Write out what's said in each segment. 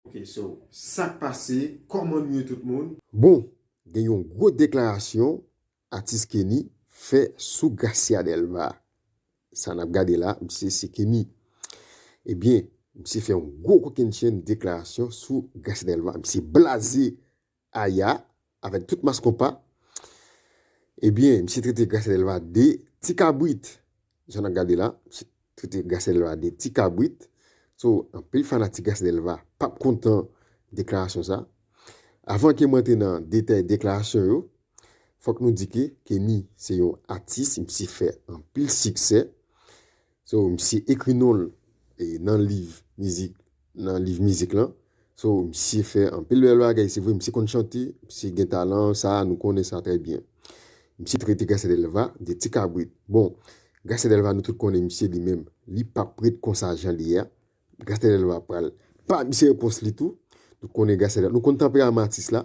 Ok so sak pase koman nou ye tout moun. Bon gen yon gwo deklarasyon atis Kenny fè sou Gracia Delva sa nap gade la misye se Kenny ebyen misye fè yon gwo kokennchenn deklarasyon sou Gracia Delva misye blaze Aya avèk tout mass konpa ebyen misye trete Gracia Delva de ti kabrit jan nap gade la misye trete Gracia Delva de ti kabrit so anpil fanatik Gracia Delva pap kontan deklarasyon sa avan ke m rantre nan detay deklarasyon yo fòk nou di ke Kenny se yon atis misye fè anpil siksè. So misye ekri non l nan liv mizik nan liv mizik lan. So misye fè anpil bèl bagay se vre misye konn chante misye gen talan sa nou konnen sa trè byen. Misye trete Garcia Delva de ti kabrit bon Garcia Delva nou tout konnen misye li menm li pap ret konsa jan li ye a Garcia Delva pral pa misye repons li tou nou konnen Garcia Delva nou konn tanperaman atis la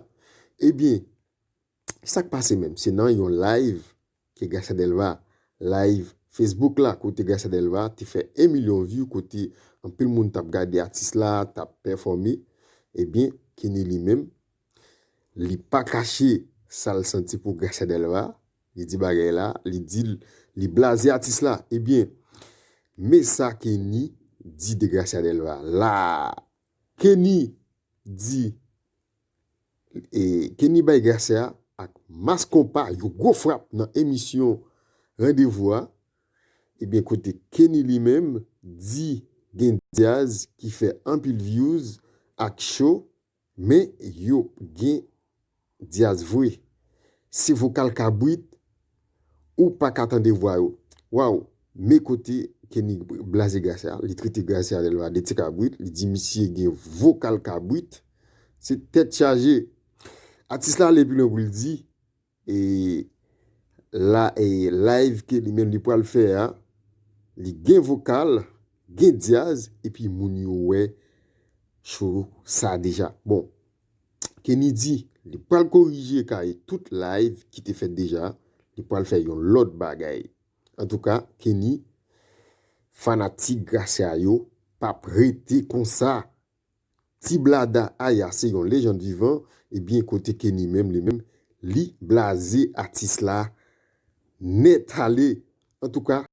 ebyen sak pase menm se nan yon live ke Gracia Delva live Facebook la kote Gracia Delva te fè 1 milyon view kote anpil moun tap gade atis la tap pèfòme ebyen Kenny li menm li pa kache sal santi pou Gracia Delva li di bagay la li di li blaze atis la ebyen men sa Kenny di de Gracia Delva laa Kenny di e Kenny bay Gracia ak Mass Konpa yon gwo frap nan emisyon Randevou a. Ebyen kote Kenny li menm di gen dyaz ki fè anpil vyouz ak cho men yo gen Diaz vre. Se vokal kabrit ou paka tande vwa yo. Waw me kote Kenny blaze Gracia li trete Gracia Delva de ti kabrit li di misye gen vokal kabrit se tèt chaje Atis la ale pi lwen pou l di e la e live ke li menm li pwal fè a li gen vokal gen Diaz epi moun yo wè show sa deja bon Kenny di li pral korije kare tout live ki te fèt deja, li pral fè yon lòt bagay. Antouka Kenny fanatik Gracia yo pap rete konsa. Ti blada Aya se yon lejand vivan ebyen kote Kenny menm li menm li blaze atis la nèt ale antouka.